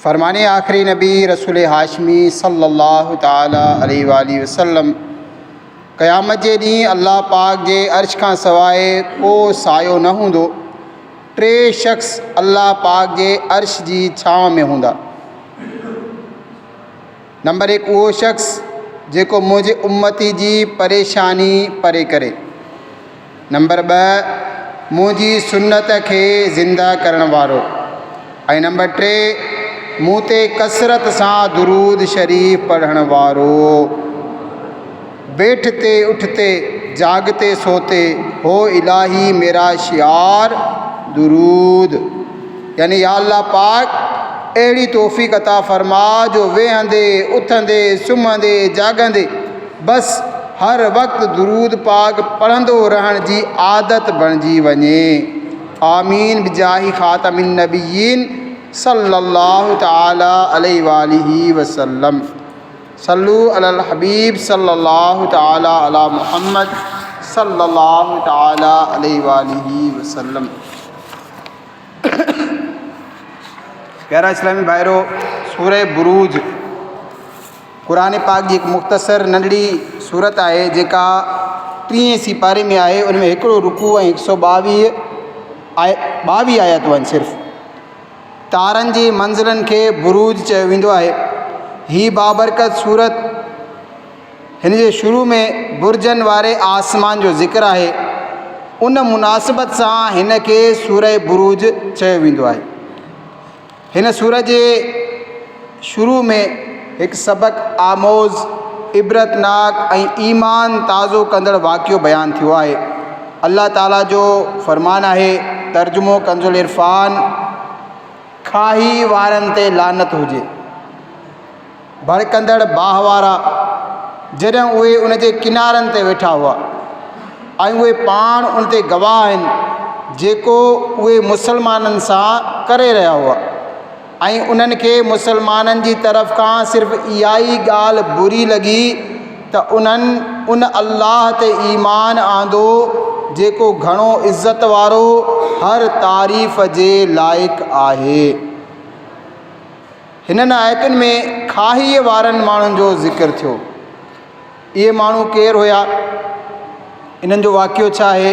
فرمان آخري نبي رسول هاشمي صلي الله تعالٰي عليه واٰله وسلم، قيامت جي ڏينهن الله پاڪ جي عرش کان سواء ڪو سايو نه هوندو، ٽي شخص الله پاڪ جي عرش جي ڇانو ۾ هوندا. نمبر هڪ اهو شخص جيڪو منهنجي امتي جي پريشاني پري ڪري. نمبر ٻه منهنجي سنت کي زنده ڪرڻ وارو ۽ نمبر ٽي مون تي ڪثرت سان درود شريف پڙهڻ وارو. بيٺ تي اٺ تي، جاڳ تي سو تي، هو الاهي ميرا شعار درود يعني يا الله پاڪ اهڙي توفيق عطا فرما جو ويهندي، اٿندي، سمهندي، جاڳندي بس هر وقت درود پاڪ پڙهندو رهڻ جي عادت بڻجي وڃي. آمين بجاهه خاتم النبيين صلي الله تعالٰي عليه واٰله وسلم. صلو علی الحبيب صلّي الله تعالٰي عليٰ محمّد صلّي الله تعالٰي عليه واٰله وسلّم پيارا اسلامي ڀائرو سوره بروج قرآن پاڪ جي هڪ مختصر ننڍڙي سورت آهي جيڪا ٽيهين سيپاري ۾ آهي ان ۾ هڪڙو رڪوع ۽ هڪ سؤ ٻاويهه آيا ٻاويهه آياتون آهن صرف تارن جي منزلن کي بروج چيو ويندو آهي. هي بابرڪت سورت هن جي شروع ۾ برجن واري آسمان جو ذڪر آهي. ان مناسبت سان هن کي سوره بروج چيو ويندو آهي. هن سورت جي شروع ۾ هڪ سبق آموز، عبرتناڪ ۽ ايمان تازو ڪندڙ واقعو بيان ٿيو آهي. الله تعاليٰ جو فرمان آهي، ترجمو ڪنزالعرفان، کاهي وارن تي لعنت هجي. ڀڙڪندڙ باهه وارا، جڏهن اهي ان جي ڪنارن تي ويٺا هئا ۽ اهي پاڻ ان تي گواهه آهن جيڪو اهي مسلمانن سان ڪري رهيا هئا. ۽ انهن کي مسلمانن جي طرف کان صرف اها ئي ڳالهه بري لڳي ته انهن ان الله تي ايمان آندو جيڪو گهڻو عزت وارو هر تعريف جي لائق آهي. هنن آيتن ۾ کاهيء وارن ماڻهن جو ذڪر ٿيو. اهي ماڻهو ڪير هيا؟ انهن جو واقعو ڇا آهي؟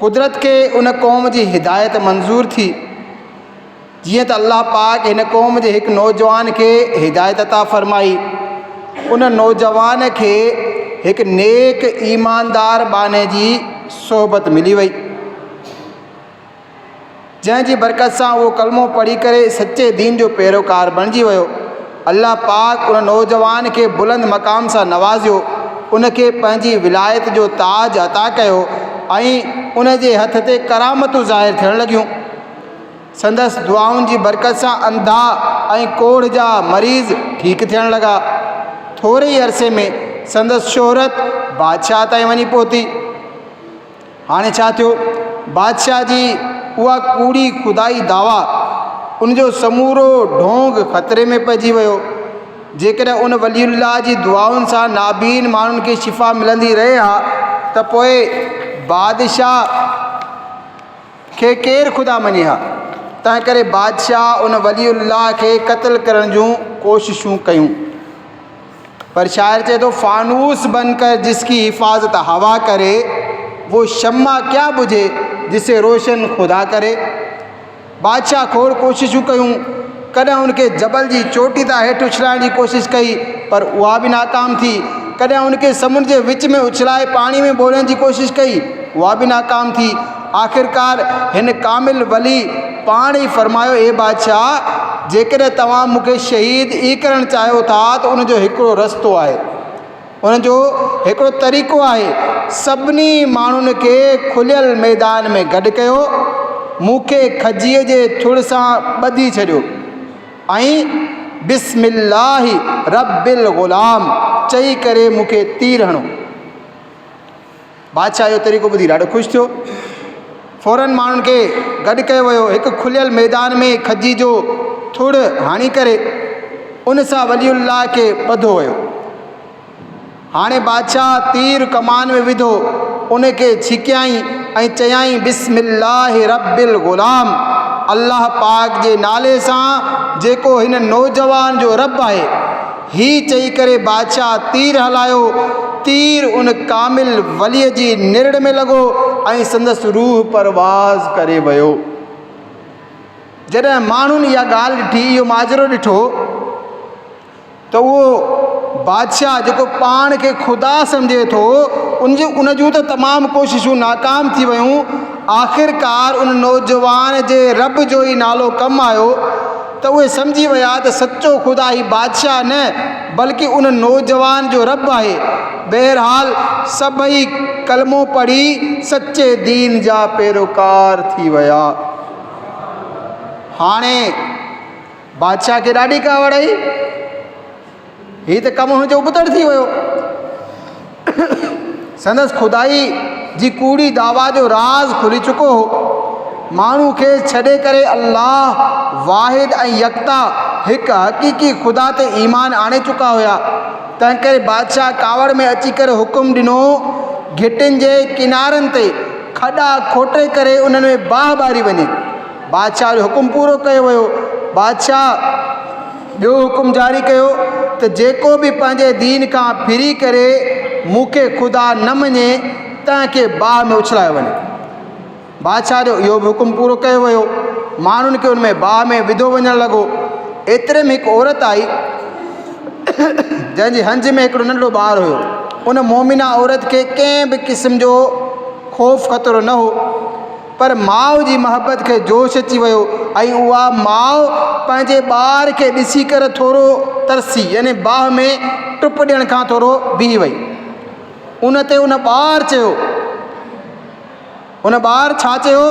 قدرت کي ان قوم جي هدايت منظور ٿي، جيئن ته الله پاڪ هن قوم جي هڪ نوجوان کي هدايت عطا فرمائي. ان نوجوان کي هڪ نيڪ ايماندار ٻانهي جي صحبت ملي وئي. جنهن جي برڪت سان اهو ڪلمو پڙهي ڪري سچي دين جو پيروڪار بڻجي ويو. الله پاڪ ان نوجوان کي بلند مقام سان نوازيو، ان کي پنهنجي ولايت جو تاج عطا ڪيو ۽ ان جي هٿ تي ڪرامتون ظاهر ٿيڻ لڳيون. سندس دعائن جي برڪت سان انڌا ۽ ڪوڙهه جا مريض ٺيڪ ٿيڻ لڳا. ٿوري ئي عرصي ۾ سندس شهرت بادشاهه تائين وڃي پهتي. هاڻي ڇا ٿيو؟ بادشاهه جي اها ڪوڙي خدائي دعويٰ، ان جو سمورو ڍونگ خطري ۾ پئجي ويو. جيڪڏهن ان ولي الله جي دعائن سان نابين ماڻهن کي شفا ملندي رهي ها ته پوء بادشاهه کي ڪير خدا مڃي ها؟ تنهنڪري بادشاهه ان ولي الله کي قتل ڪرڻ جون ڪوششون ڪيون. پر شاعر چئي ٿو فانوس بن ڪر جس ڪي حفاظت هوا ڪري وو شمع ڪيا ٻجهي جسي روشن خدا ڪري بادشاهه کوڙ ڪوششون ڪيون ڪڏهن ان کي جبل جي چوٽي تان هيٺ اڇلائڻ جي ڪوشش ڪئي پر اها به ناڪام ٿي ڪڏهن ان کي سمنڊ جي وچ ۾ اڇلائي پاڻي ۾ ٻوڙڻ جي ڪوشش ڪئي اها به ناڪام ٿي آخرڪار هن ڪامل ولي پاڻ ئي فرمايو، اي بادشاهه! جيڪڏهن توهان مون کي شهيد ئي ڪرڻ چاهيو ٿا ته ان جو هڪڙو رستو آهي. ان جو هڪڙو طريقو آهي. سڀني ماڻهن کي کليل ميدان ۾ گڏ ڪيو. مون کي کجيء جي ٿڙ سان ٻڌي ڇڏيو ۽ بسم الله رب الغلام چئي ڪري مون کي تير هڻو. بادشاهه اهو طريقو ٻڌي ڏاڍو خوش ٿيو. فورن ماڻهن کي گڏ ڪيو ويو. هڪ کليل ميدان ۾ کجي جو ٿڙ هڻي ڪري ان سان ولي الله کي ٻڌو ويو. هاڻي بادشاهه تير ڪمان ۾ وڌو ان کي ڇڪيائين ۽ چيائين بسم الله رب الغلام الله پاڪ جي نالي سان جيڪو هن نوجوان جو رب آهي. هي چئي ڪري بادشاهه تير هلايو، تير ان ڪامل وليء جي نرڙ ۾ لڳو ۽ سندس روح پرواز ڪري ويو. جڏهن ماڻهن اها ڳالهه ڏٺي، اهو ماجرو ڏٺو ته اهو بادشاهه جيڪو پاڻ کي خدا سمجهي ٿو، ان جون ان جون ته تمام ڪوششون ناڪام ٿي ويون، آخرڪار ان نوجوان جي رب جو ئي نالو ڪم آيو، ته اهي سمجهي ويا ته سچو خدا هي بادشاهه نه بلڪ ان نوجوان جو رب آهي. بهرحال سڀئي ڪلمو پڙهي سچي دين جا پيروڪار ٿي ويا. هاڻي بادشاهه کي ڏاڍي ڪاوڙ آئي. هي ته ڪم هن جو ابتڙ ٿي ويو. سندس خدائي جي ڪوڙي دعويٰ جو راز کلي چڪو هو. ماڻهو کيس ڇڏي ڪري الله واحد ۽ يڪتا هڪ حقيقي خدا تي ايمان آڻي چڪا هيا. تنهنڪري بادشاهه ڪاوڙ ۾ اچي ڪري حڪم ڏنو گهٽين جي ڪنارن تي کڏا کوٽي ڪري انهن ۾ باهه ٻاري وڃي. بادشاهه جو حڪم پورو ڪيو ويو. بادشاهه. ٻيو حڪم جاري ڪيو ته جيڪو به پنهنجي دين کان ڦري ڪري مون کي خدا نه مڃي تنهن کي باهه ۾ اڇلايو وڃي. بادشاهه جو اهو به حڪم پورو ڪيو ويو. ماڻهن کي ان ۾ باهه ۾ وڌو وڃڻ لڳو. ايتري ۾ هڪ عورت آئي جنهن جي هنج ۾ هڪڙو ننڍڙو ٻار هيو. ان مومنه عورت کي ڪنهن به قسم جو خوف خطرو نه هو. پر ماء جي محبت کي جوش اچي ويو ۽ اها ماء پنهنجي ٻار کي ڏسي ڪر ٿورو ترسي يعني باهه ۾ ٽپ ڏيڻ کان ٿورو بيهي وئي. ان تي ان ٻار چيو ان ٻار ڇا چيو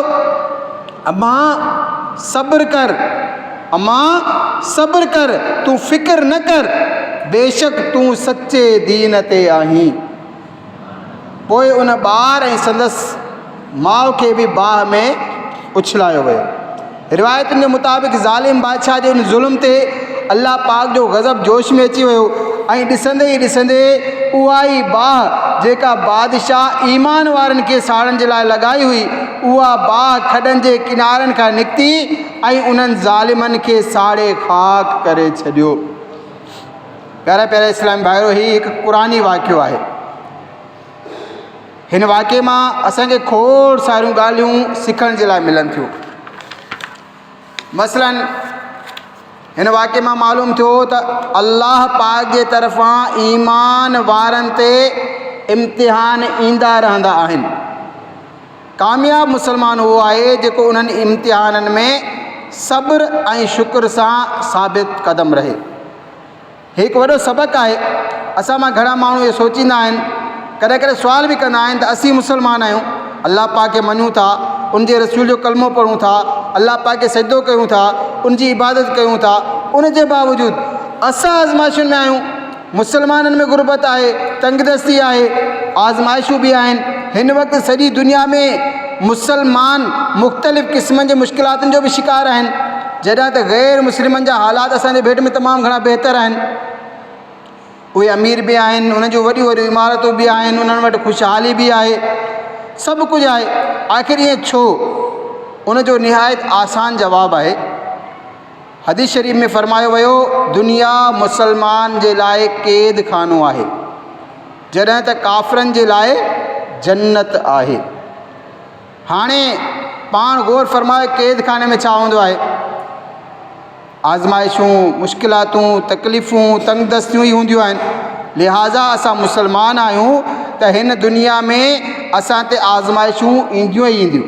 امان صبر ڪر امان صبر ڪر تون فڪر نه ڪر بيشڪ تون سچي دين تي آهين. پوء ان ٻار ۽ سندس ماء کي به باهه ۾ اڇلايو ويو. روايتن جي مطابق ظالم بادشاهه جي ان ظلم تي الله پاڪ جو غضب جوش ۾ اچي ويو ۽ ڏسندي ئي ڏسندي اها ئي باهه جيڪا بادشاهه ايمان وارن کي ساڙڻ جي لاء لڳائي هئي اها باهه کڏن جي ڪنارن کان نڪتي ۽ انهن ظالمن کي ساڙي خاڪ ڪري ڇڏيو. پيارا پيارا اسلام بھائيو هي هڪ قرآني واقعو آهي هن واقعي مان اسانکي کوڙ ساريون ڳالهيون سکڻ جي لاء ملن ٿيون مثلا هن واقعي مان معلوم ٿيو ته الله پاڪ جي طرفان ايمان وارن تي امتحان ايندا رهندا آهن ڪامياب مسلمان اهو آهي جيڪو انهن امتحانن ۾ صبر ۽ شڪر سان ثابت قدم رهي. هي هڪ وڏو سبق آهي. اسان مان گهڻا ماڻهو اهو سوچيندا آهن، ڪڏهن ڪڏهن سوال به ڪندا آهن ته اسين مسلمان آهيون، الله پاڪ کي مڃون ٿا، ان جي رسول جو ڪلمو پڙهون ٿا، الله پاڪ کي سجدو ڪيون ٿا، ان جي عبادت ڪيون ٿا، ان جي باوجود اسان آزمائشن ۾ آهيون. مسلمانن ۾ غربت آهي، تنگدستي آهي، آزمائشون به آهن، هن وقت سڄي دنيا ۾ مسلمان مختلف قسمن جي مشڪلاتن جو به شڪار آهن، جڏهن ته غير مسلمن جا حالات اسان جي ڀيٽ ۾ تمام گهڻا بهتر آهن، اهي امير به آهن، انهن جون وڏيون وڏيون عمارتون به آهن، انهن وٽ خوشحالي به آهي، سڀ ڪجهه آهي، آخر ائين ڇو؟ ان جو نهايت آسان جواب آهي. حديث شريف ۾ فرمايو ويو، دنيا مسلمان جي لاء قيد خانو آهي، جڏهن ته ڪافرن جي لاء جنت آهي. هاڻي پاڻ غور فرمايو قيد خاني ۾ ڇا هوندو آهي؟ آزمائشون، مشڪلاتون، تڪليفون، تنگ دستيون ئي هونديون آهن. لهٰذا اسان مسلمان آهيون ته هن دنيا ۾ اسان تي آزمائشون اينديون ئي اينديون.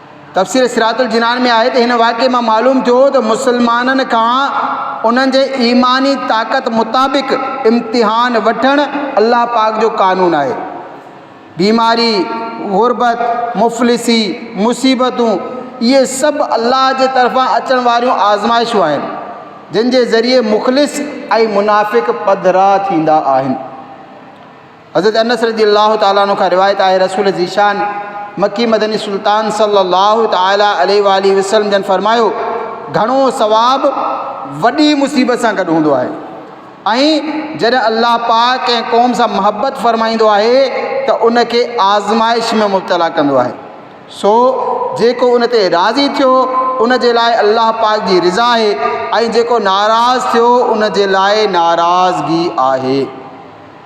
تفسير صراط الجنان ۾ آهي ته هن واقعي مان معلوم ٿيو ته مسلمانن کان انهن جي ايماني طاقت مطابق امتحان وٺڻ الله پاڪ جو قانون آهي. بيماري، غربت، مفلسي، مصيبتون اهي سڀ الله جي طرفان اچڻ واريون آزمائشون آهن جن جي ذريعي مخلص ۽ منافق پڌرا ٿيندا آهن. حضرت انس رضي الله تعالٰي عنه کان روايت آهي رسول ذيشان مڪي مدني سلطان صلي الله تعالٰي عليه واٰله وسلم جن فرمايو گهڻو ثواب وڏي مصيبت سان گڏ هوندو آهي ۽ جڏهن الله پاڪ ڪنهن قوم سان محبت فرمائيندو آهي ته ان کي آزمائش ۾ مبتلا ڪندو آهي سو جيڪو ان تي راضي ٿيو ان جي لاء الله پاڪ جي رضا آهي ۽ جيڪو ناراض ٿيو ان جي لاء ناراضگي آهي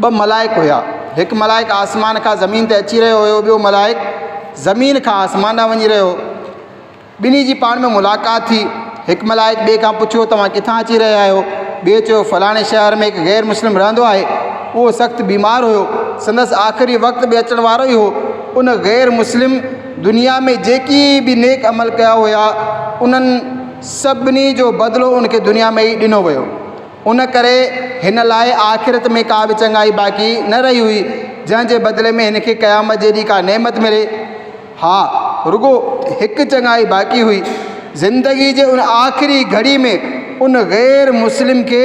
ٻه ملائڪ هيا. هڪ ملائڪ آسمان کان زمين تي اچي رهيو هيو، ٻيو ملائڪ زمين کان آسمان ڏانهن وڃي رهيو هو. ٻنهي جي پاڻ ۾ ملاقات ٿي. هڪ ملائڪ ٻئي کان پڇيو، توهان ڪٿان اچي رهيا آهيو؟ ٻئي چيو، فلاڻي شهر ۾ هڪ غير مسلم رهندو آهي. اهو سخت بيمار هيو. سندس آخري وقت به اچڻ وارو ئي هو. ان غير مسلم دنيا ۾ جيڪي به نيڪ عمل ڪيا هيا، انهن سڀني جو بدلو ان کي دنيا ۾ ئي ڏنو ويو. ان ڪري هن لاء آخرت ۾ ڪا به چڱائي باقي نه رهي هئي، جنهن جي بدلي ۾ هن کي قيامت جي ڏينهن ڪا نعمت ملي. ها، رڳو هڪ چڱائي باقي هئي. زندگيء جي ان آخري گهڙي ۾ ان غير مسلم کي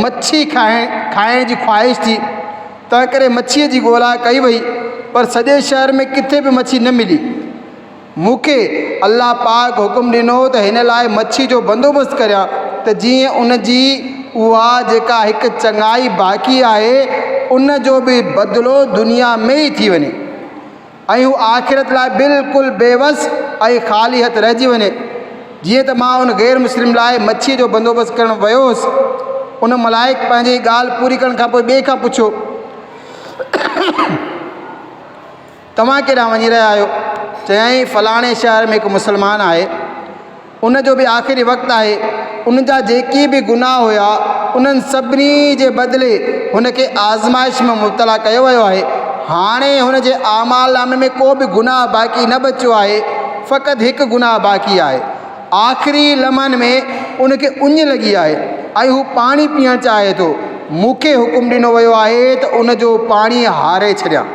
مڇي کائڻ جي خواهش ٿي، تنهنڪري مڇيء جي ڳولا ڪئي وئي، پر سڄي شهر ۾ ڪٿي به مڇي نه ملي. مون کي الله پاڪ حڪم ڏنو ته هن لاء مڇي جو بندوبست ڪريان ته جيئن ان جي اها جيڪا هڪ چڱائي باقي آهي ان جو به بدلو دنيا ۾ ئي ٿي وڃي ۽ هو آخرت لاء بلڪل بي وس ۽ خالي هٿ رهجي وڃي جيئن ته مان ان غير مسلم لاء مڇي جو بندوبست ڪرڻ ويو هوس ان ملائڪ پنهنجي ڳالهه پوري ڪرڻ کانپوء ٻئي کان پڇيو توهان ڪيڏانهن وڃي رهيا آهيو؟ چيائين، فلاڻي شهر ۾ هڪ مسلمان آهي، ان جو به آخري وقت آهي، ان جا جيڪي به گناهه هيا، انهن سڀني جي بدلي هن کي آزمائش ۾ مبتلا ڪيو ويو آهي، هاڻي هن جي اعمال نامي ۾ ڪو به گناهه باقي نه بچيو آهي، فقط هڪ گناهه باقي آهي. آخري لمحن ۾ ان کي اڃ لڳي آهي ۽ هو پاڻي پيئڻ چاهي ٿو، مون کي حڪم ڏنو ويو آهي ته ان جو پاڻي هاري ڇڏيان.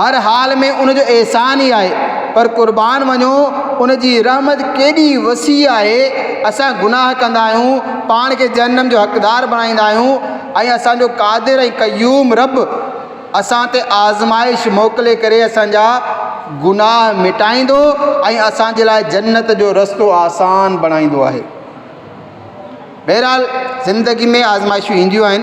هر حال ۾ ان جو احسان ئي آهي. پر قربان وڃو ان جي رحمت ڪيڏي وسيع آهي. اسان گناهه ڪندا آهيون، پاڻ کي جهنم جو حقدار بڻائيندا آهيون ۽ اسان جو قادر ۽ قيوم رب اسان تي آزمائش موڪلي ڪري اسان جا گناهه مٽائيندو ۽ اسان جي لاء جنت جو رستو آسان بڻائيندو آهي. بهرحال زندگي ۾ آزمائشون اينديون آهن.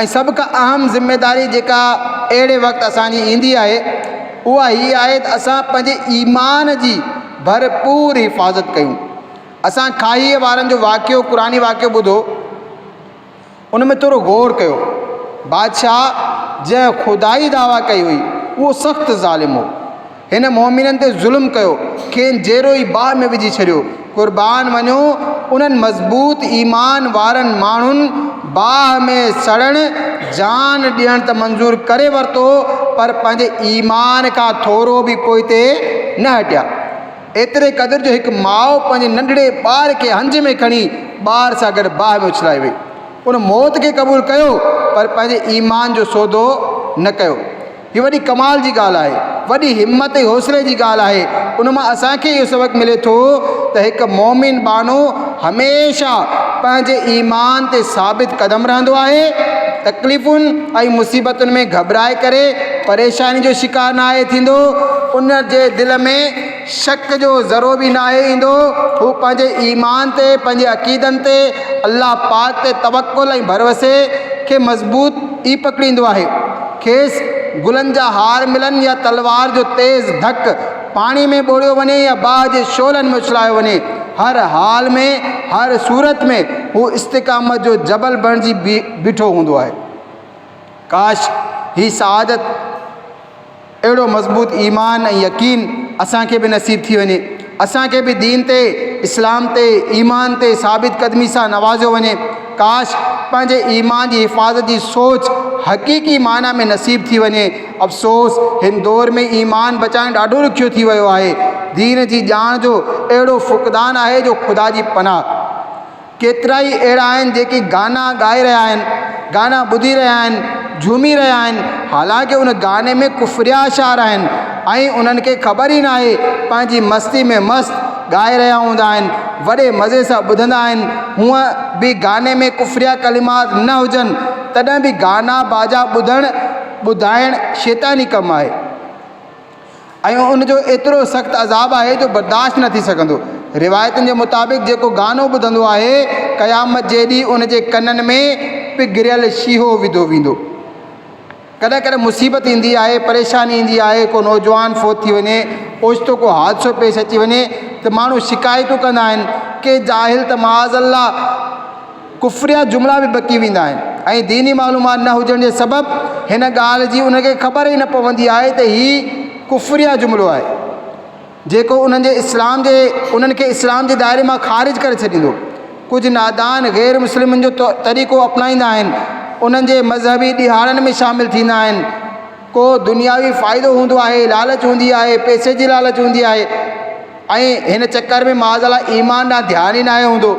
۽ سڀ کان اهم ذميداري جيڪا اهڙي وقت اسان جي ايندي آهي اها هي آهي ته اسان پنهنجي ايمان جي ڀرپور حفاظت ڪيون اسان کاهيء وارن جو واقعو قرآن واقعو ٻڌو ان ۾ ٿورو غور ڪيو بادشاهه جنهن خدائي دعويٰ ڪئي هئي اهو سخت ظالم هو هن مؤمنن تي ظلم ڪيو، کين جيرو ئي باهه ۾ وجهي ڇڏيو. قربان وڃو انهن مضبوط ايمان وارن ماڻهن باهه ۾ سڙڻ، جان ڏيڻ ته منظور ڪري ورتو پر پنهنجي ايمان کان ٿورو به پوئتي نه هٽيا. ايتري قدر جو هڪ ماء پنهنجي ننڍڙي ٻار کي هنج ۾ کڻي ٻار سان گڏ باهه ۾ اڇلائي وئي. ان موت کي قبول ڪيو پر پنهنجي ايمان جو سودو نه ڪيو. هي وڏي ڪمال جي ڳالهه آهي، وڏي همت ۽ حوصلي جي ڳالهه آهي. ان مان اسان کي اهو سبق ملي ٿو ته هڪ مؤمن ٻانهو هميشه پنهنجي ايمان تي ثابت قدم رهندو آهي، تڪليفن ۽ مصيبتن ۾ گهٻرائي ڪري پريشاني جو شڪار ناهي ٿيندو، ان جي دل ۾. شڪ جو ذرو به ناهي ايندو، هو پنهنجي ايمان تي، پنهنجي عقيدن تي، الله پاڪ تي توڪل ۽ ڀروسي کي مضبوط ئي پڪڙيندو آهي. کيس گلن جا هار ملن يا تلوار جو تيز ڌڪ پاڻي ۾ ٻوڙيو وڃي يا باهه جي شعلن ۾ اڇلايو وڃي، هر حال ۾، هر صورت ۾ هو استقامت جو جبل بڻجي بيٺو هوندو آهي. ڪاش! هي سعادت. اهڙو مضبوط ايمان ۽ يقين اسان کي به نصيب ٿي وڃي، اسان کي به دين تي، اسلام تي، ايمان تي ثابت قدمي سان نوازيو وڃي. ڪاش! پنهنجي ايمان جي حفاظت جي سوچ حقيقي معنيٰ ۾ نصيب ٿي وڃي. افسوس! هن دور ۾ ايمان بچائڻ ڏاڍو ڏکيو ٿي ويو آهي. دين جي ڄاڻ جو اهڙو فقدان آهي جو خدا جي پناهه! ڪيترائي اهڙا آهن جيڪي گانا ڳائي رهيا آهن گانا ٻڌي رهيا آهن جهومي رهيا آهن حالانڪه ان گاني ۾ ڪفريا اشعار آهن ۽ انهن کي خبر ئي ناهي پنهنجي مستي ۾ مست ڳائي رهيا هوندا آهن وڏي مزي سان ٻڌندا آهن هونء به گاني ۾ ڪفريا ڪلمات نه هجن تڏهن به گانا باجا ٻڌڻ ٻڌائڻ شيطاني ڪم آهي. ۽ ان جو ايترو سخت عذاب آهي جو برداشت نه ٿي سگهندو. روايتن جي مطابق جيڪو گانو ٻڌندو آهي، قيامت جي ڏينهن ان جي ڪنن ۾ پگهريل شيهو وڌو ويندو. ڪڏهن ڪڏهن مصيبت ايندي آهي، پريشاني ايندي آهي، ڪو نوجوان فوت ٿي وڃي، اوچتو ڪو حادثو پيش اچي وڃي ته ماڻهو شڪايتون ڪندا آهن. ڪي جاهل ته معاذ الله! ڪفريا جملا به بڪي ويندا آهن ۽ ديني معلومات نه هجڻ جي سبب هن ڳالهه جي انهن کي خبر ئي نه پوندي آهي ته هي ڪفريا جملو آهي جيڪو انهن جي اسلام جي انهن کي اسلام جي دائري مان خارج ڪري ڇڏيندو ڪجهه نادان غير مسلمن جو طريقو اپنائيندا آهن انهن جي مذهبي ڏهاڙن ۾ شامل ٿيندا آهن ڪو دنياوي فائدو هوندو آهي، لالچ هوندي آهي، پئسي جي لالچ هوندي آهي ۽ هن چڪر ۾ معاذ الله ايمان ڏانهن ڌيان ئي ناهي هوندو.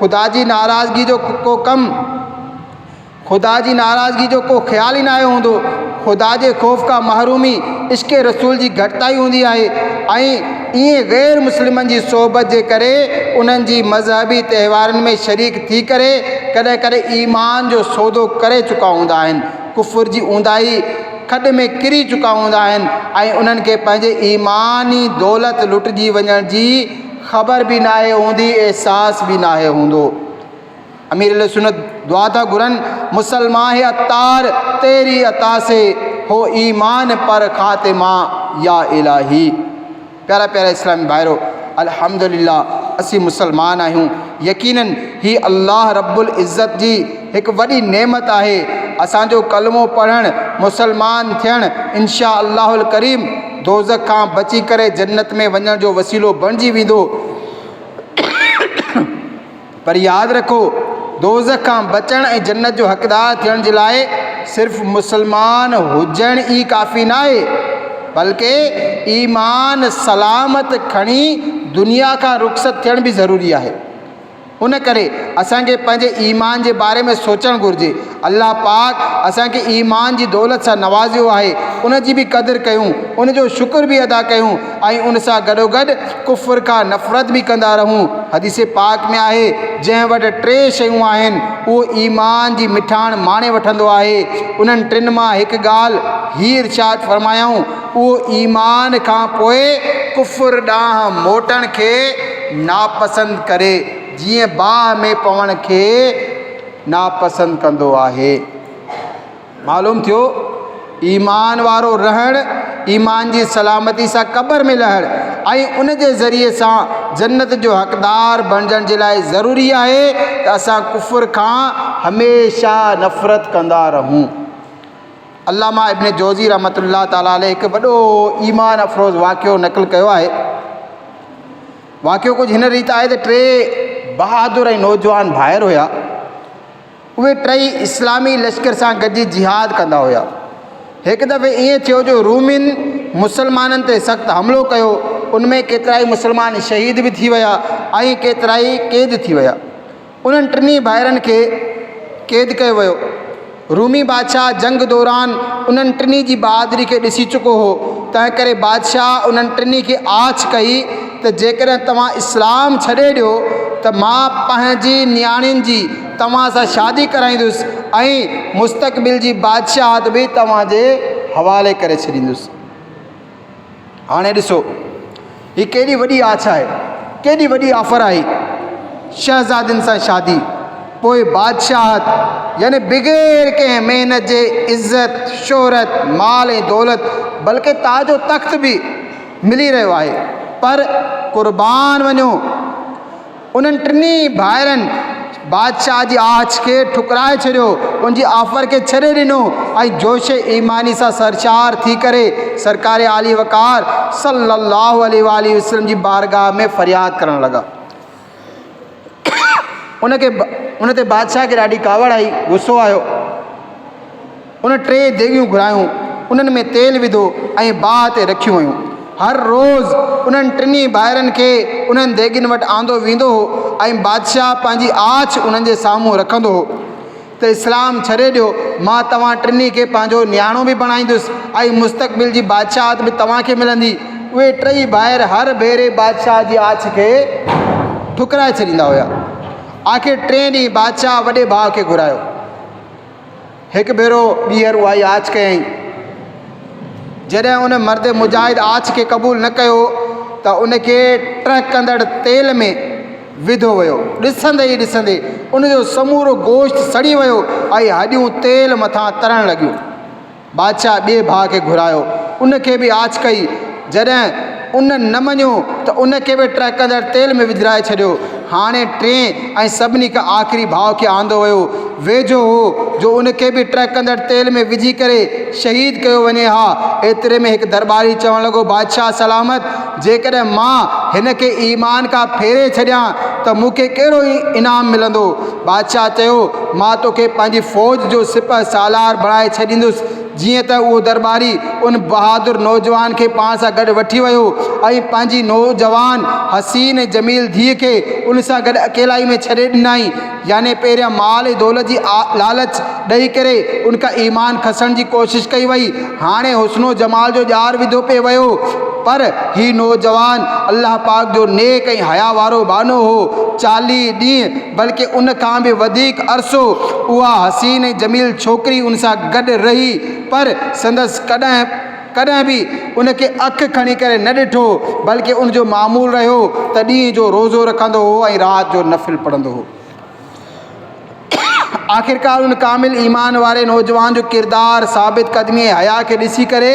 خدا جي ناراضگي جو ڪو ڪم، خدا جي ناراضگي جو ڪو خيال ئي ناهي هوندو. خدا جي خوف کان محرومي عشق رسول جي گهٽتائي هوندي آهي ۽ ائين غير مسلمن جي صحبت جي ڪري انهن جي مذهبي تهوارن ۾ شريڪ ٿي ڪري ڪڏهن ڪڏهن ايمان جو سودو ڪري چڪا هوندا آهن. ڪفر جي اونداهي کڏ ۾ ڪري چڪا هوندا آهن ۽ انهن کي پنهنجي ايماني دولت لٽجي وڃڻ جي خبر به ناهي هوندي احساس به ناهي هوندو امير اهل سنت دعا ٿا گهرن مسلمان هي عطار تيري عطا سي هو ايمان پر خاتمه يا الاهي پيارا پيارا اسلامي ڀائرو! الحمدلله اسين مسلمان آهيون. يقينن هي الله رب العزت جي هڪ وڏي نعمت آهي. اسان جو ڪلمو پڙهڻ، مسلمان ٿيڻ انشاء الله الڪريم دوزخ کان بچي ڪري جنت ۾ وڃڻ جو وسيلو بڻجي ويندو. پر ياد رکو، دوزخ کان بچڻ ۽ جنت جو حقدار ٿيڻ جي لاء صرف مسلمان هجڻ ئي ڪافي ناهي، بلڪه ايمان سلامت کڻي دنيا کان رخصت ٿيڻ به ضروري آهي. ان ڪري اسان کي پنهنجي ايمان جي باري ۾ سوچڻ گهرجي. الله پاڪ اسان کي ايمان جي دولت سان نوازيو آهي ان جي به قدر ڪيون ان جو شڪر به ادا ڪيون ۽ ان سان گڏوگڏ ڪفر کان نفرت به ڪندا رهون حديث پاڪ ۾ آهي جنهن وٽ ٽي شيون آهن اهو ايمان جي مٺاڻ ماڻي وٺندو آهي انهن ٽن مان هڪ ڳالهه هي ارشاد فرمايائون اهو ايمان کان پوء ڪفر ڏانهن موٽڻ کي ناپسند ڪري جيئن باهه ۾ پوڻ کي ناپسند ڪندو آهي. معلوم ٿيو ايمان وارو رهڻ، ايمان جي سلامتي سان قبر ۾ لهڻ ۽ ان جي ذريعي سان جنت جو حقدار بڻجڻ جي لاء ضروري آهي ته اسان ڪفر کان هميشه نفرت ڪندا رهون. علامه ابن جوزي رحمة الله تعالٰي عليه هڪ وڏو ايمان افروز واقعو نقل ڪيو آهي. واقعو ڪجهه هن ريت آهي ته ٽي بهادر ۽ نوجوان ڀائر هيا. اهي ٽئي اسلامي لشڪر سان گڏجي جهاد ڪندا هيا. هڪ دفعي ائين ٿيو جو رومين مسلمانن تي سخت حملو ڪيو. ان ۾ ڪيترائي مسلمان شهيد به ٿي ويا ۽ ڪيترائي قيد ٿي ويا. انهن ٽنهي ڀائرن کي قيد ڪيو ويو. رومي بادشاهه جنگ دوران انهن ٽنهي جي بهادري کي ڏسي چڪو هو، تنهنڪري بادشاهه انهن ٽنهي کي آڇ ڪئي ته جيڪڏهن توهان اسلام ڇڏي ڏيو ته مان پنهنجي نياڻين جي توهان سان شادي ڪرائيندس ۽ مستقبل جي بادشاهت به توهان جي حوالي ڪري ڇڏيندس. هاڻي ڏسو، هي ڪيڏي وڏي آڇ آهي، ڪيڏي وڏي آفر آهي، شهزادين سان شادي، پوء بادشاهت، يعني بغير ڪنهن محنت جي عزت، شهرت، مال ۽ دولت، بلڪ تاج و تخت به ملي رهيو آهي، پر قربان وڃو! انهن ٽنهي ڀائرن بادشاهه جي آڇ کي ٺڪرائي ڇڏيو، ان جي آفر کي ڇڏي ڏنو ۽ جوش ايماني سان سرشار ٿي ڪري سرڪار عالي وقار صلّي اللّٰه عليه واٰله وسلّم جي بارگاهه ۾ فرياد ڪرڻ لڳا. ان تي بادشاهه کي ڏاڍي ڪاوڙ آئي، غصو آيو. ان ٽي ديڳيون گهرايون، انهن ۾ تيل وڌو ۽ باهه تي رکيون ويون. هر روز انهن ٽنهي ڀائرن کي انهن ديڳين وٽ آندو ويندو هو ۽ بادشاهه پنهنجي آڇ انهن جي سامهون رکندو هو ته اسلام ڇڏي ڏيو، مان توهان ٽنهي کي پنهنجو نياڻو به بڻائيندس ۽ مستقبل جي بادشاهت به توهان کي ملندي. اهي ٽئي ڀائر هر ڀيري بادشاهه جي آڇ کي ٺڪرائي ڇڏيندا هيا. آخر ٽئين ڏينهن بادشاهه وڏي ڀاء کي گهرايو. هڪ ڀيرو ٻيهر اها ئي آڇ ڪيائين. جڏهن ان مرد مجاهد آڇ کي قبول نه ڪيو ته ان کي ٽهڪندڙ تيل ۾ وڌو ويو. ڏسندي ئي ڏسندي ان جو سمورو گوشت سڙي ويو ۽ هڏيون تيل مٿان ترڻ لڳيون. بادشاهه ٻئي ڀاء کي گهرايو، ان کي به آڇ ڪئي، جڏهن ان نه مڃيو ته ان کي به ٽهڪندڙ تيل ۾ وجهرائي ڇڏيو. هاڻي ٽئين ۽ سڀني کان آخري ڀاء کي آندو ويو، ويجهو هو جو ان کي به ٽهڪندڙ تيل ۾ وجهي ڪري شهيد ڪيو وڃي ها، ايتري ۾ هڪ درٻاري چوڻ لڳو، بادشاهه سلامت! جيڪڏهن مان هن کي ايمان کان ڦيري ڇڏيان ته مون کي ڪهڙو انعام ملندو؟ بادشاهه چيو، مان تو کي پنهنجي فوج جو سپهه سالار بڻائي ڇڏيندس. جيئن ته اهو درٻاري ان بهادر نوجوان کي پاڻ سان گڏ وٺي ويو ۽ پنهنجي نوجوان، حسين ۽ جميل ڌيء کي ان سان گڏ اڪيلائي ۾ ڇڏي ڏنائين. يعني پهريان مال ۽ دولت جي لالچ ڏئي ڪري ان کان ايمان کسڻ جي ڪوشش ڪئي وئي. هاڻي حسن و جمال جو ڄار وڌو پئي ويو. پر هي نوجوان الله پاڪ جو نيڪ ۽ حياء وارو ٻانهو هو. چاليهه ڏينهن بلڪ ان کان به وڌيڪ عرصو اها حسين ۽ جميل ڇوڪري ان سان گڏ رهي پر سندس ڪڏهن ڪڏهن به ان کي اک کڻي ڪري نه ڏٺو، بلڪه ان جو معمول رهيو ته ڏينهن جو روزو رکندو هو ۽ رات جو نفل پڙهندو هو. آخرڪار ان ڪامل ايمان واري نوجوان جو ڪردار، ثابت قدمي ۽ حياء کي ڏسي ڪري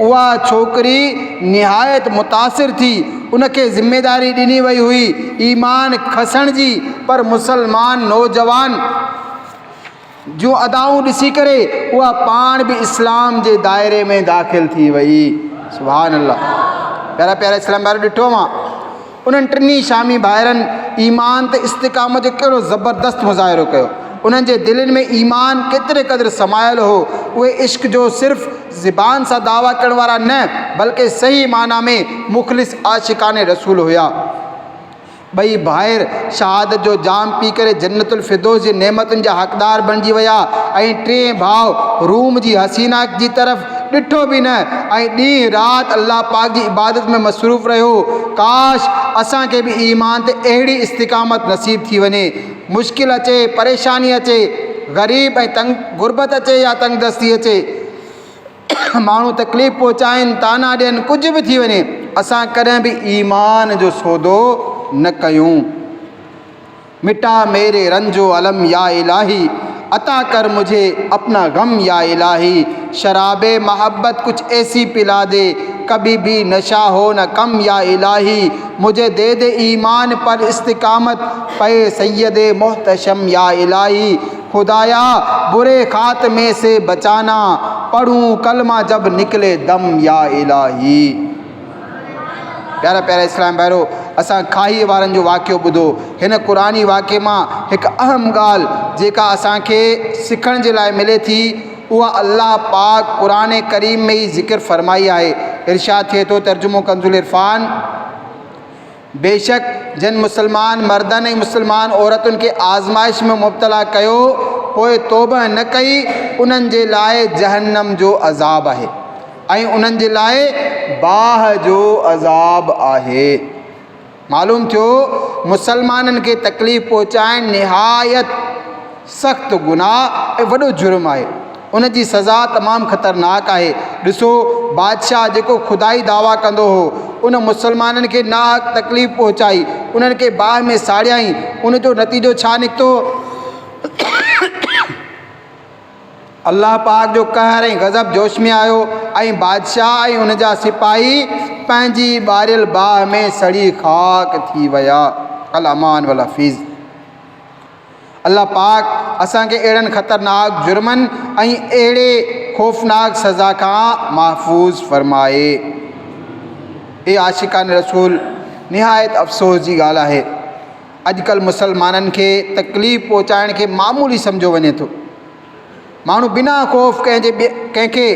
اها ڇوڪري نهايت متاثر ٿي. ان کي ذميواري ڏني وئي هئي ايمان کسڻ جي، پر مسلمان نوجوان. جون ادائون ڏسي ڪري اها پاڻ به اسلام جي دائري ۾ داخل ٿي وئي سبحان الله پيارا پيارا اسلام بار ڏٺو اهو انهن ٽنهي شامي ڀائرن ايمان ته استقامت جو ڪهڙو زبردست مظاهرو ڪيو انهن جي دلين ۾ ايمان ڪيتري قدر سمايل هو اهي عشق جو صرف زبان سان دعويٰ ڪرڻ وارا نه بلڪه صحيح معنيٰ ۾ مخلص عاشقان رسول هيا ٻئي ڀائر شهادت جو جام پي ڪري جنت الفردوس جي نعمتن جا حقدار بڻجي ويا ۽ ٽئين ڀاء روم جي حسينا جي طرف ڏٺو به نه ۽ ڏينهن رات الله پاڪ جي عبادت ۾ مصروف رهيو. ڪاش! اسان کي به ايمان تي اهڙي استقامت نصيب ٿي وڃي. مشڪل اچي، پريشاني اچي، غريب ۽ تنگ غربت اچي يا تنگدستي اچي. ماڻهو تڪليف پهچائين طعنا ڏين ڪجهه به ٿي وڃي اسان ڪڏهن به ايمان جو سودو نه ڪيون مٽا ميري رنج و علم يا الٰهي عطا ڪر مجھي اپنا غم يا الٰهي شراب محبت ڪچھ ايسي پلا دي ڪبي بي نشا هو نه ڪم يا الٰهي مجھي دي دي ايمان پر استقامت پئي سيد محتشم يا الٰهي خدايا بري خاتمي سي بچانا، پڙهون ڪلمه جب نڪلي دم يا الاهي. پيارا پيارا اسلام ڀائرو! اسان کاهيء وارن جو واقعو ٻڌو. هن قرآني واقعي مان هڪ اهم ڳالهه جيڪا اسان کي سکڻ جي لاء ملي ٿي اها الله پاڪ قرآن ڪريم ۾ ئي ذڪر فرمائي آهي. ارشاد ٿئي ٿو، ترجمو ڪنزالعرفان، بيشڪ جن مسلمان مردن ۽ مسلمان عورتن کي آزمائش ۾ مبتلا ڪيو پوء توبهه نه ڪئي انهن جي لاء جهنم جو عذاب آهي ۽ انهن جي لاء باهه جو عذاب آهي معلوم ٿيو مسلمانن کي تڪليف پهچائڻ نهايت سخت گناهه ۽ وڏو جرم آهي. ان جي سزا تمام خطرناڪ آهي. ڏسو، بادشاهه جيڪو خدائي دعويٰ ڪندو هو، ان مسلمانن کي ناحق تڪليف پهچائي، انهن کي باهه ۾ ساڙيائين. ان جو نتيجو ڇا نڪتو؟ الله پاڪ جو قهر ۽ غضب جوش ۾ آيو ۽ بادشاهه ۽ ان جا سپاهي پنهنجي ٻاريل باهه ۾ سڙي خاڪ ٿي ويا. الامان والحفيظ. الله پاڪ اسان کي اهڙن خطرناڪ جرمن ۽ اهڙي خوفناڪ سزا کان محفوظ فرمائي. اي عاشقان رسول! نهايت افسوس جي ڳالهه آهي اڄڪلهه مسلمانن کي تڪليف پهچائڻ کي معمولي سمجهيو وڃي ٿو. ماڻهو بنا خوف ڪنهن جي ڪنهن کي.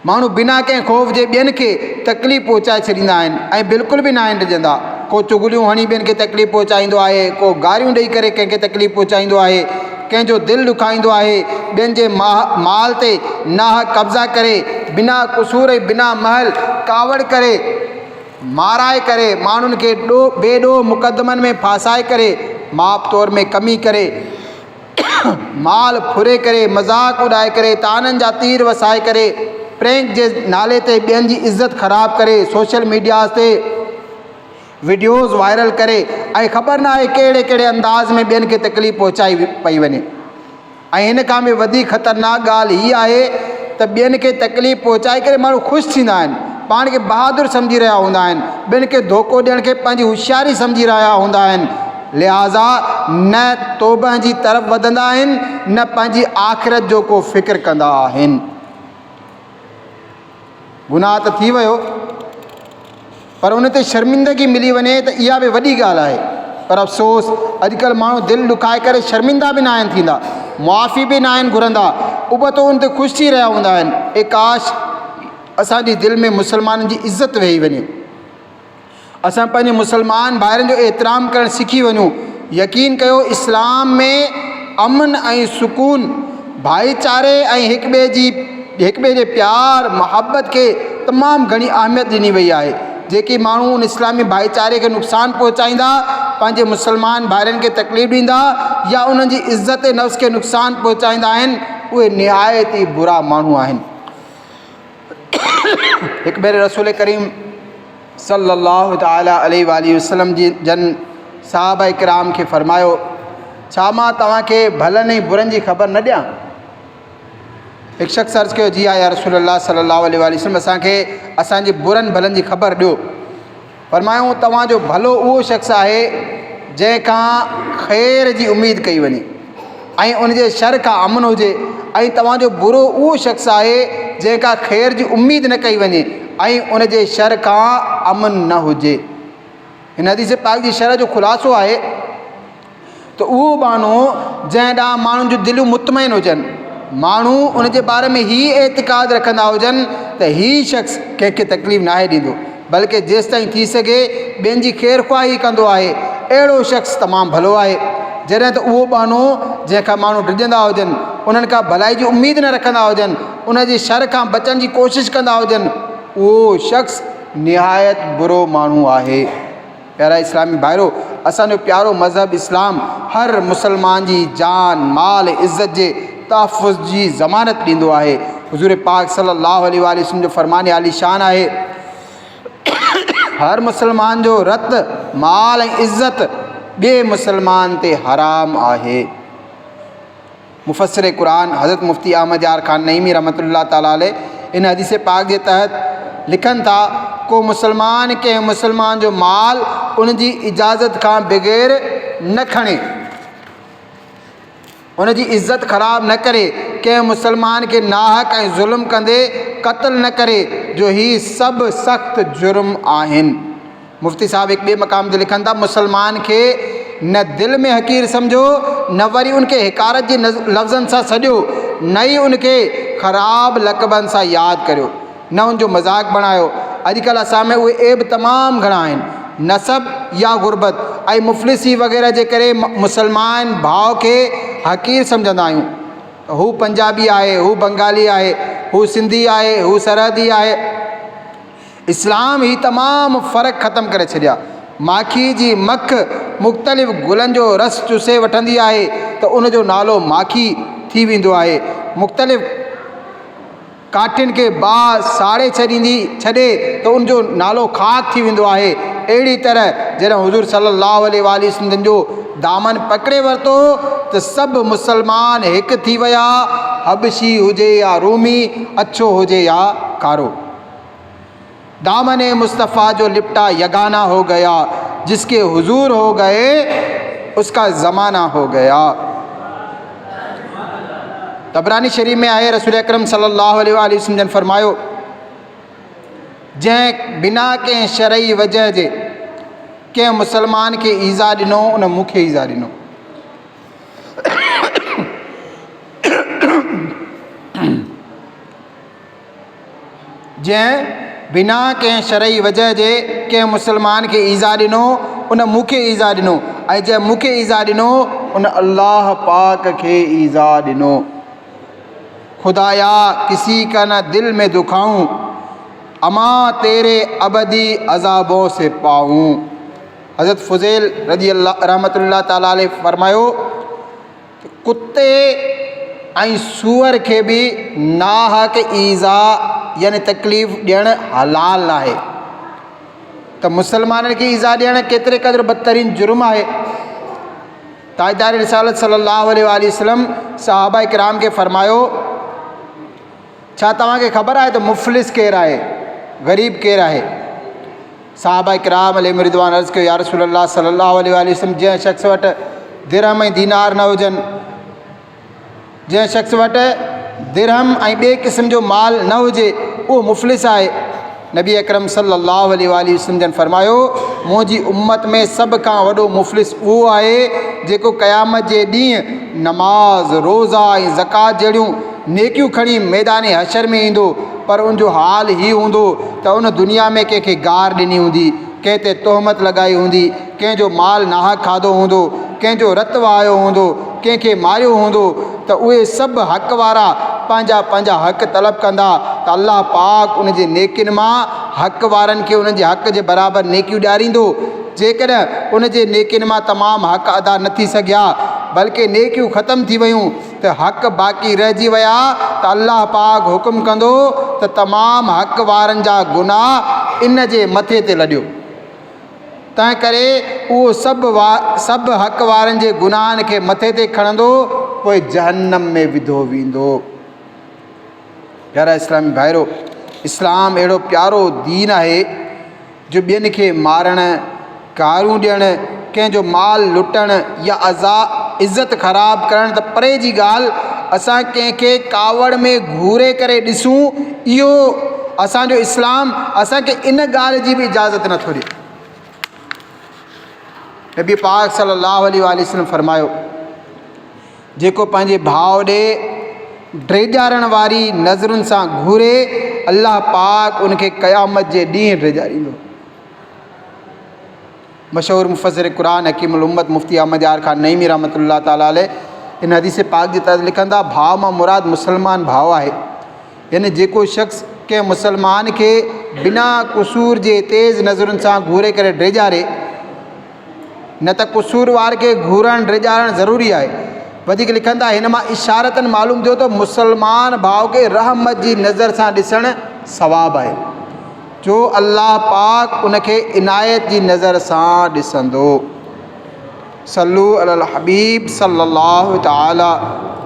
ماڻهو بنا ڪنهن خوف جي ٻين کي تڪليف پهچائي ڇڏيندا آهن ۽ بلڪل به ناهن ڊڄندا. ڪو چغليون هڻي ٻين کي تڪليف پهچائيندو آهي، ڪو گاريون ڏئي ڪري ڪنهن کي تڪليف پهچائيندو آهي، ڪنهن جو دل ڏکائيندو آهي، ٻين جي مال تي ناحق قبضا ڪري، بنا قصور ۽ بنا محل ڪاوڙ ڪري، مارائي ڪري، ماڻهن کي بي ڏوهه مقدمن ۾ ڦاسائي ڪري، ماپ تور ۾ ڪمي ڪري، مال ڦري ڪري، مذاق اڏائي ڪري، طعنن جا تير وسائي ڪري، پرينڪ جي نالي تي ٻين جي عزت خراب ڪري، سوشل ميڊياز تي وڊيوز وائرل ڪري ۽ خبر ناهي ڪهڙي ڪهڙي انداز ۾ ٻين کي تڪليف پهچائي پئي وڃي ۽ هن کان به وڌيڪ خطرناڪ ڳالهه هي آهي ته ٻين کي تڪليف پهچائي ڪري ماڻهو خوش ٿيندا آهن، پاڻ کي بهادر سمجهي رهيا هوندا آهن، ٻين کي ڌوڪو ڏيڻ کي پنهنجي هوشياري سمجهي رهيا هوندا آهن، لهٰذا نه توبهه جي طرف وڌندا آهن نه پنهنجي آخرت جو ڪو فڪر ڪندا آهن. گناهه ته ٿي ويو پر ان تي شرمندگي ملي وڃي ته اها به وڏي ڳالهه آهي پر افسوس اڄڪلهه ماڻهو دل ڏکائي ڪري شرمندا به ناهن ٿيندا، معافي به ناهن گهرندا ابتو ان تي خوش ٿي رهيا هوندا آهن. اي ڪاش! اسان جي دل ۾ مسلمانن جي عزت ويهي وڃي. اسان پنهنجي مسلمان ڀائرن جو احترام ڪرڻ سکي وڃون. يقين ڪيو اسلام ۾ امن ۽ سڪون، ڀائيچاري ۽ هڪ ٻئي جي هڪ ٻئي جي پيار محبت کي تمام گهڻي اهميت ڏني وئي آهي. جيڪي ماڻهو ان اسلامي ڀائيچاري کي نقصان پهچائيندا، پنهنجي مسلمان ڀائرن کي تڪليف ڏيندا يا انهن جي عزت نفس کي نقصان پهچائيندا آهن اهي نهايت ئي برا ماڻهو آهن. هڪ ڀيري رسول ڪريم صلّي اللّٰه تعالٰي عليه واٰله وسلّم جي جن صحابه ڪرام کي فرمايو، ڇا مان توهان کي ڀلن ۽ برن جي خبر نه ڏيان؟ هڪ شخص عرض ڪيو، جي ها يا رسول الله صلّي اللّٰه عليه واٰله وسلّم اسان کي اسان جي برن ڀلن جي خبر ڏيو. فرمايائون، توهان جو ڀلو اهو شخص آهي جنهن کان خير جي اميد ڪئي وڃي ۽ ان جي شر کان امن هجي ۽ توهان جو برو اهو شخص آهي جنهن کان خير جي اميد نه ڪئي وڃي ۽ ان جي شر کان امن نه هجي. هن حديث پاڪ جي شرح جو خلاصو آهي. ته اهو ٻانهو جنهن ڏانهن ماڻهن جون دليون مطمئن هجن، ماڻهو ان جي باري ۾ هي اعتقاد رکندا هجن ته هي شخص ڪنهن کي تڪليف ناهي ڏيندو، بلڪه جيستائين ٿي سگهي ٻين جي خير خواهي ڪندو آهي، اهڙو شخص تمام ڀلو آهي. جڏهن ته اهو ٻانهو جنهن کان ماڻهو ڊڄندا هجن، انهن کان ڀلائي جي اميد نه رکندا هجن، ان جي شر کان بچڻ جي ڪوشش ڪندا هجن، اهو شخص نهايت برو ماڻهو آهي. پيارا اسلامي ڀائرو! اسان جو پيارو مذهب اسلام هر مسلمان جي جان، مال، عزت جي تحفظ جي ضمانت ڏيندو آهي. حضور پاڪ صلّي اللّٰه عليه واٰله وسلّم جو فرمان عالي شان آهي ته هر مسلمان جو رت، مال ۽ عزت ٻئي مسلمان تي حرام آهي. مفسر قرآن حضرت مفتي احمد يار خان نعيمي رحمة الله تعالٰي عليه ان حديث پاڪ جي تحت لکن ٿا، ڪو مسلمان ڪنهن مسلمان جو مال ان جي اجازت کان بغير نه کڻي، ان جي عزت خراب نه ڪري، ڪنهن مسلمان کي ناحق ۽ ظلم ڪندي قتل نه ڪري، جو هي سڀ سخت جرم آهن. مفتي صاحب هڪ ٻئي مقام تي لکن ٿا، مسلمان کي نه دل ۾ حقير سمجهو، نه وري ان کي حقارت جي لفظن سان سڏيو، نه ئي ان کي خراب لقبن سان ياد ڪريو، نه ان جو مذاق بڻايو. اڄڪلهه اسان ۾ اهي عيب تمام گهڻا آهن. نسب يا غربت ۽ مفلسي وغيره جي ڪري مسلمان ڀاء کي حقير سمجهندا آهيون ته هو پنجابي آهي، هو بنگالي آهي، هو سنڌي آهي، هو سرحدي آهي. اسلام هي تمام فرق ختم ڪري ڇڏيا. ماکي جي مک مختلف گلن جو رس چوسي وٺندي آهي ته ان جو نالو ماکي ٿي ويندو آهي. مختلف ڪاٺين کي باهه ساڙي ڇڏيندي ڇڏي ته ان جو نالو خاڪ ٿي ويندو آهي. اهڙي طرح جڏهن حضور صلي الله عليه واٰله سندن جو دامن پڪڙي ورتو ته سڀ مسلمان هڪ ٿي ويا، حبشي هجي يا رومي، اڇو هجي يا ڪارو. دامن مصطفيٰ جو لپٽا يگانه هو گيا جس ڪي حضور هو گئي اس ڪا زمانه هو گيا تبراني شريف ۾ آهي رسول اڪرم صلي الله عليه واله وسلم جن فرمايو جنهن بنا ڪنهن شرعي وجه جي ڪنهن مسلمان کي ايزا ڏنو ان مون کي ايزا ڏنو جنهن بنا ڪنهن شرعي وجه جي ڪنهن مسلمان کي ايذاء ڏنو ان مون کي ايذاء ڏنو ۽ جنهن مون کي ايذاء ڏنو ان الله پاڪ کي ايذاء ڏنو. خدايا ڪسي ڪا نه دل ۾ دکائون امان تيري ابدي عذابون سي پائون حضرت فضيل رضي الله رحمة الله تعالٰي عليه فرمايو، ڪتي ۽ سوئر کي به ناحق ايذاء يعني تڪليف ڏيڻ حلال ناهي ته مسلمانن کي ايذاء ڏيڻ ڪيتري قدر بدترين جرم آهي تاجدار رسالت صلي الله عليه وآله وسلم صحابه اڪرام کي فرمايو ڇا توهان کي خبر آهي ته مفلس ڪير آهي؟ غريب ڪير آهي؟ صحابه ڪرام عليهم الرضوان عرض ڪيو، يا رسول الله صلي الله عليه واٰله وسلم جنهن شخص وٽ درهم ۽ دينار نه هجن، جنهن شخص وٽ درهم ۽ ٻئي قسم جو مال نه هجي، اهو مفلس آهي. نبي اڪرم صلي الله عليه واٰله وسلم جن فرمايو، منهنجي امت ۾ سڀ کان وڏو مفلس اهو آهي جيڪو قيامت جي ڏينهن نماز، روزا ۽ زڪوات جهڙيون نيڪيون کڻي ميدان حشر ۾ ايندو پر ان جو حال هي هوندو ته ان دنيا ۾ ڪنهن کي گار ڏني هوندي، ڪنهن تي تهمت لڳائي هوندي، ڪنهن جو مال ناحق کاڌو هوندو، ڪنهن جو رت وهايو هوندو، ڪنهن کي ماريو هوندو ته اهي سڀ حق وارا پنهنجا پنهنجا حق طلب ڪندا ته الله پاڪ ان جي نيڪين مان حق وارن کي انهن جي حق جي برابر نيڪيون ڏياريندو جيڪڏهن ان جي نيڪين مان تمام حق ادا نه ٿي سگهيا بلڪه نيڪيون ختم ٿي ويون ته حق باقي رهجي ويا ته الله پاڪ حڪم ڪندو ته تمام حق وارن جا گناهه ان جي مٿي تي لڏيو. تنهنڪري اهو سڀ وا سڀ حق وارن جي گناهن کي مٿي تي کڻندو پوء جهنم ۾ وڌو ويندو. پيارا اسلامي ڀائرو! اسلام اهڙو پيارو دين آهي جو ٻين کي مارڻ، گارون ڏيڻ، ڪنهن جو مال لٽڻ يا عزا عزت خراب ڪرڻ ته پري جي ڳالهه اسان ڪنهن کي ڪاوڙ ۾ گهوري ڪري ڏسون اهو اسان جو اسلام اسان کي ان ڳالهه جي به اجازت نٿو ڏي. نبي پاڪ صلي الله عليه واله وسلم فرمايو جيڪو پنهنجي ڀاء ڏي ڊيڄارڻ واري نظرن سان گهوري الله پاڪ ان کي قيامت جي ڏينهن ڊيڄاريندو مشهور مفسر قرآن حڪيم الامت مفتي احمد يار خان نعيمي رحمة الله تعالٰي عليه ان حديث پاڪ جي تحت لکن ٿا، ڀاء مان مراد مسلمان ڀاء آهي. يعني جيڪو شخص ڪنهن مسلمان کي بنا قصور جي تيز نظرن سان گهوري ڪري ڊيڄاري، نه ته قصوروار کي گهورڻ ڊيڄارڻ ضروري آهي. وڌيڪ لکن ٿا، هن مان اشارتن معلوم ٿيو ته مسلمان ڀاء کي رحمت جي نظر سان ڏسڻ ثواب آهي. جو الله پاڪ ان کي عنايت جي نظر سان ڏسندو. صلو علی الحبيب صلّي الله تعالٰي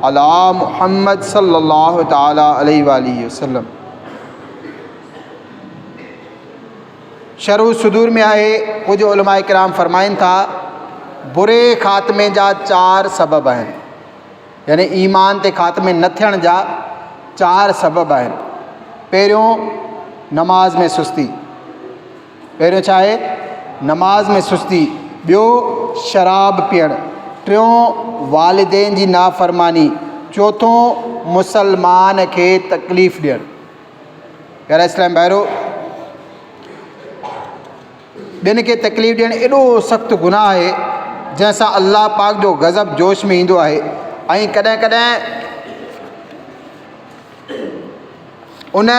عليٰ محمّد صلّي الله تعالٰي عليه واٰله وسلّم. شرح الصدور ۾ آهي ڪجهه علماء ڪرام فرمائن ٿا بري خاتمي جا چار سبب آهن. يعني ايمان تي خاتمي نه ٿيڻ جا چار سبب آهن. پهريون نماز ۾ سستي، پهريون ڇا آهي؟ نماز ۾ سستي، ٻيو شراب پيئڻ، ٽيون والدين جي نافرماني، چوٿون مسلمان کي تڪليف ڏيڻ. پيارا اسلامي ڀائرو! ٻين کي تڪليف ڏيڻ ايڏو سخت گناهه آهي، جنهن سان الله پاڪ جو غضب جوش ۾ ايندو آهي ۽ ڪڏهن ڪڏهن ان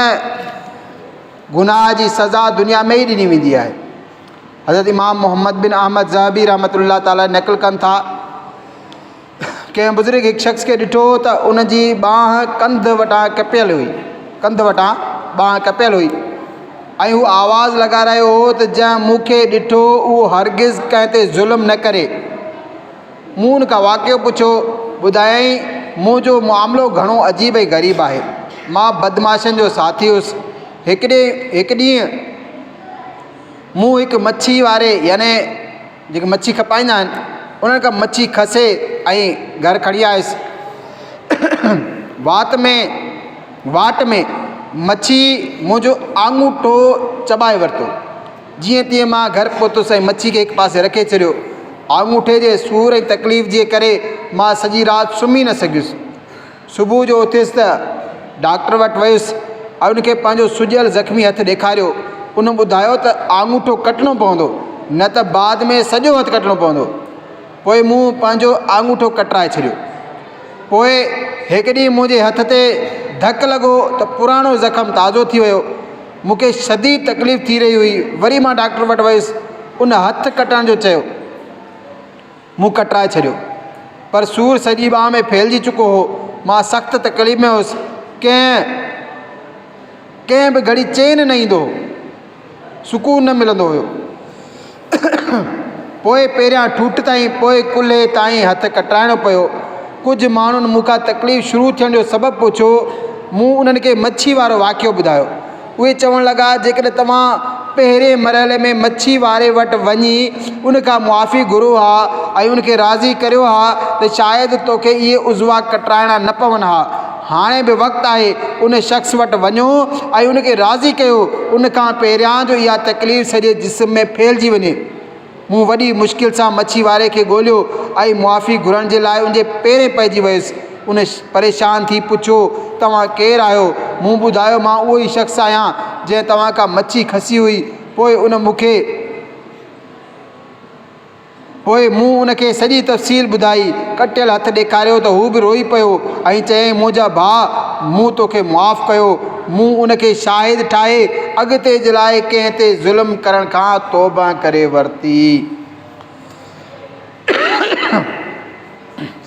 گناهه جي سزا دنيا ۾ ئي ڏني ويندي آهي. حضرت امام محمد بن احمد ذهبي رحمة الله تعالٰي نقل ڪن ٿا، ڪنهن بزرگ هڪ شخص کي ڏٺو ته ان جي ٻانهن ڪنڌ وٽان ڪپيل هئي ڪنڌ وٽان ٻانهن ڪپيل هئي ۽ هو آواز لڳائي رهيو هو ته جنهن مون کي ڏٺو اهو هرگز ڪنهن تي ظلم نه ڪري مون ان کان واقعو پڇيو ٻڌايائين منهنجو معاملو گهڻو عجيب ۽ غريب آهي مان بدمعاشن جو ساٿي هيس هڪ ڏي هڪ ڏينهن مون هڪ مڇي واري يعني جيڪي مڇي کپائيندا آهن انهن کان مڇي کسي ۽ گهر کڻي آيس. وات ۾ واٽ ۾ مڇي منهنجو آڱوٺو چٻائي ورتو. جيئن تيئن مان گهر پهتس ۽ مڇي کي هڪ پاسي رکي ڇڏيو. آڱوٺي جي سور ۽ تڪليف جي ڪري مان سڄي رات سمهي نه سگهيس. صبح جو اٿيس ته ڊاڪٽر وٽ ويس ۽ ان کي پنهنجو سڄيل زخمي هٿ ڏيکاريو. ان ٻڌايو ته آڱوٺو ڪٽڻو پوندو، نه ته بعد ۾ سڄو هٿ ڪٽڻو پوندو. پوء مون پنهنجو آڱوٺو ڪٽرائي ڇڏيو. پوء هڪ ڏينهن منهنجي هٿ تي ڌڪ لڳو ته پراڻو زخم تازو ٿي ويو. مون کي شديد تڪليف ٿي رهي هئي. وري مان ڊاڪٽر وٽ ويس. ان هٿ ڪٽڻ جو چيو. مون ڪٽرائي ڇڏيو، پر سور سڄي ٻانهن ۾ ڦهلجي چڪو هو. مان سخت تڪليف ۾ هوس. ڪنهن ڪنهن به گهڙي چين نه ايندو هو. سڪون نه ملندو هيو. پوء پهريان ٺوٺ تائين، پوء ڪلهي تائين هٿ ڪٽرائڻو پيو. ڪجهه ماڻهن مون کان تڪليف شروع ٿيڻ جو سبب پڇيو. مون انهن کي مڇي وارو واقعو ٻڌايو. اهي چوڻ لڳا، جيڪڏهن توهان پهرئين مرحلي ۾ مڇي واري وٽ وڃي ان کان معافي گهرو ها ۽ ان کي راضي ڪريو ها ته شايد توکي اهي عضوا ڪٽرائڻا نه پون ها. هاڻي به وقت آهي ان شخص وٽ وڃو ۽ ان کي راضي ڪيو ان کان پهريان جو اها تڪليف سڄي جسم ۾ ڦهلجي وڃي. مون وڏي مشڪل سان مڇي واري کي ڳوليو ۽ معافي گهرڻ جي لاء ان جي پيرين پئجي ويس. ان پريشان ٿي پڇيو، توهان ڪير آهيو؟ مون ٻڌايو، مان اهو ئي شخص آهيان، جنهن توهان کان مڇي کسي هئي. پوء ان مون کي. پوء مون ان کي سڄي تفصيل ٻڌائي. ڪٽيل هٿ ڏيکاريو ته هو به روئي پيو ۽ چيائين، منهنجا ڀاء، مون توکي معاف ڪيو. مون ان کي شاهد ٺاهي اڳتي جي لاء ڪنهن تي ظلم ڪرڻ کان توبه ڪري ورتي.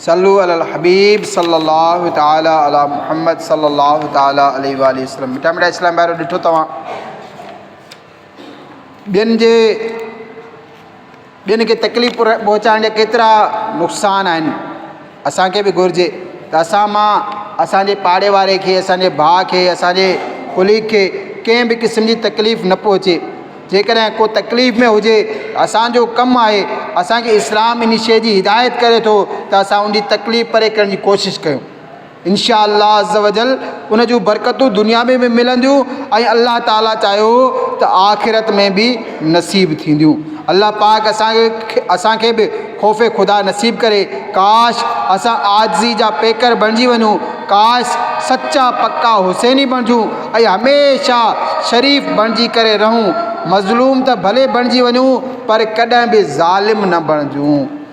صلو علي الحبيب صلي الله تعالي علي محمد صلي الله تعالي عليه واله وسلم مٺا مٺا اسلام بارو ڏٺو توهان ٻين جي ٻين کي تڪليف پهچائڻ جا ڪيترا نقصان آهن اسان کي به گهرجي ته اسان مان اسانجي پاڙي واري کي اسانجي ڀاء کي اسانجي ڪليگ کي ڪنهن به قسم جي تڪليف نه پهچي جيڪڏهن ڪو تڪليف ۾ هجي اسانجو ڪم آهي اسانکي اسلام ان شي جي هدايت ڪري ٿو ته اسان ان جي تڪليف پري ڪرڻ جي ڪوشش ڪيون انشاء الله عزّوجلّ ان جون برڪتون دنيا ۾ به ملنديون ۽ الله تعالٰي چاهيو ته آخرت ۾ به نصيب ٿينديون. الله پاڪ اسان کي اسان کي به خوف خدا نصيب ڪري. ڪاش اسان عاجزي جا پيڪر بڻجي وڃون، ڪاش سچا پڪا حسيني بڻجون ۽ هميشه شريف بڻجي ڪري رهون. مظلوم ته ڀلي بڻجي وڃون پر ڪڏهن به ظالم نه بڻجون.